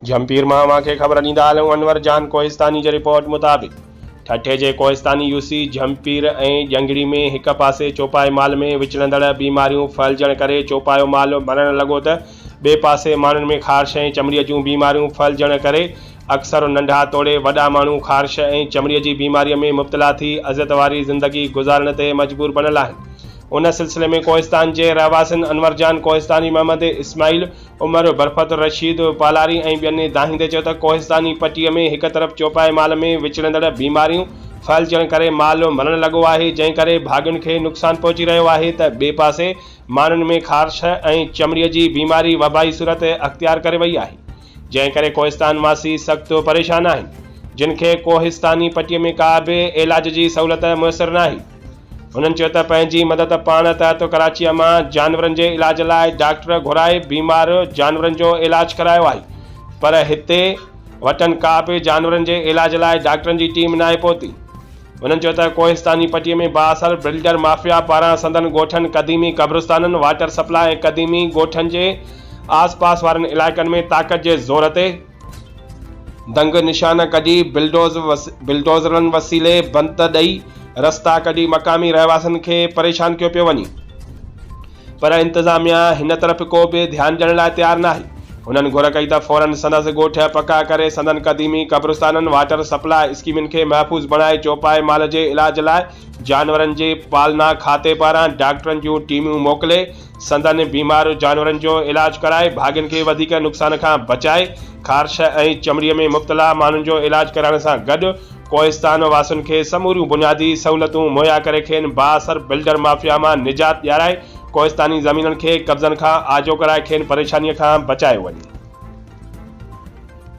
جھمپير مان اوھان کي خبر ڏيندا ھلون انور جان ڪوھستاني جي رپورٽ مطابق ٺٽي جي ڪوھستاني يو سي جھمپير ۽ ڄنگڙي ۾ ھڪ پاسي چوپائي مال ۾ وچڙندڙ بيماريون ڦھلجڻ ڪري چوپايو مال مرڻ لڳو ته ٻئي پاسي ماڻھن ۾ خارش ۽ چمڙي جون بيماريون ڦھلجڻ ڪري اڪثر ننڍا توڙي وڏا ماڻھو خارش ۽ چمڙي جي بيماري ۾ مبتلا ٿي اذيت واري زندگي گذارڻ تي مجبور بڻيل آھن ان سلسلي ۾ ڪوھستان جي رھواسين انور جان ڪوھستاني محمد اسماعيل عمر برفتالرشيد پالاري ۽ ٻين دانهيندي چيو ته ڪوهستاني پٽي ۾ هڪ طرف چوپائي مال ۾ وچڙندڙ بيماريون ڦهلجڻ ڪري مال مرڻ لڳو آهي جنهن ڪري ڀاڳين کي نقصان پهچي رهيو آهي ته ٻئي پاسي ماڻهن ۾ خارش ۽ چمڙي جي بيماري وبائي صورت اختيار ڪري وئي آهي جنهن ڪري ڪوهستان واسي سخت پريشان آهن جن کي ڪوهستاني پٽي ۾ ڪا به علاج جي سهولت ميسر ناهي. هنن چيو ته پنهنجي مدد پاڻ تحت ڪراچيء مان جانورن جي علاج لاء ڊاڪٽر گهرائي بيمار جانورن جو علاج ڪرايو آهي پر هتي وٽن ڪا به جانورن جي علاج لاء ڊاڪٽرن جي ٽيم ناهي پهتي. هنن چيو ته ڪوهستاني پٽي ۾ بااثر بلڊر مافيا پاران سندن ڳوٺن، قديمي قبرستانن، واٽر سپلاء ۽ قديمي ڳوٺن جي آس پاس وارن علائقن ۾ طاقت جي زور تي، دنگ نشان ڪڍي بلڊوزرن وسيلي بنت ڏئي رستا ڪڍي مقامي رهواسين کي پريشان ڪيو پيو وڃي پر انتظاميا هن طرف ڪو به ڌيان ڏيڻ لاء تيار ناهي هنن گهر ڪئي ته فورن سندس ڳوٺ پڪا ڪري سندن قديمي قبرستانن واٽر سپلاء اسڪيمن کي محفوظ بڻائي چوپائي مال جي علاج لاء جانورن جي پالنا کاتي پاران ڊاڪٽرن جون ٽيمون موڪلي سندن بيمار جانورن جو علاج ڪرائي ڀاڳين کي وڌيڪ نقصان کان بچائي خارش ۽ چمڙي ۾ مبتلا ماڻهن جو علاج ڪرائڻ سان گڏ ڪوهستان واسين کي سموريون بنيادي سهولتون مهيا ڪري کين بااثر بلڊر مافيا مان نجات ڏيارائي ڪوهستاني زمينن کي قبضن کان آجو ڪرائي کين پريشاني کان بچايو وڃي.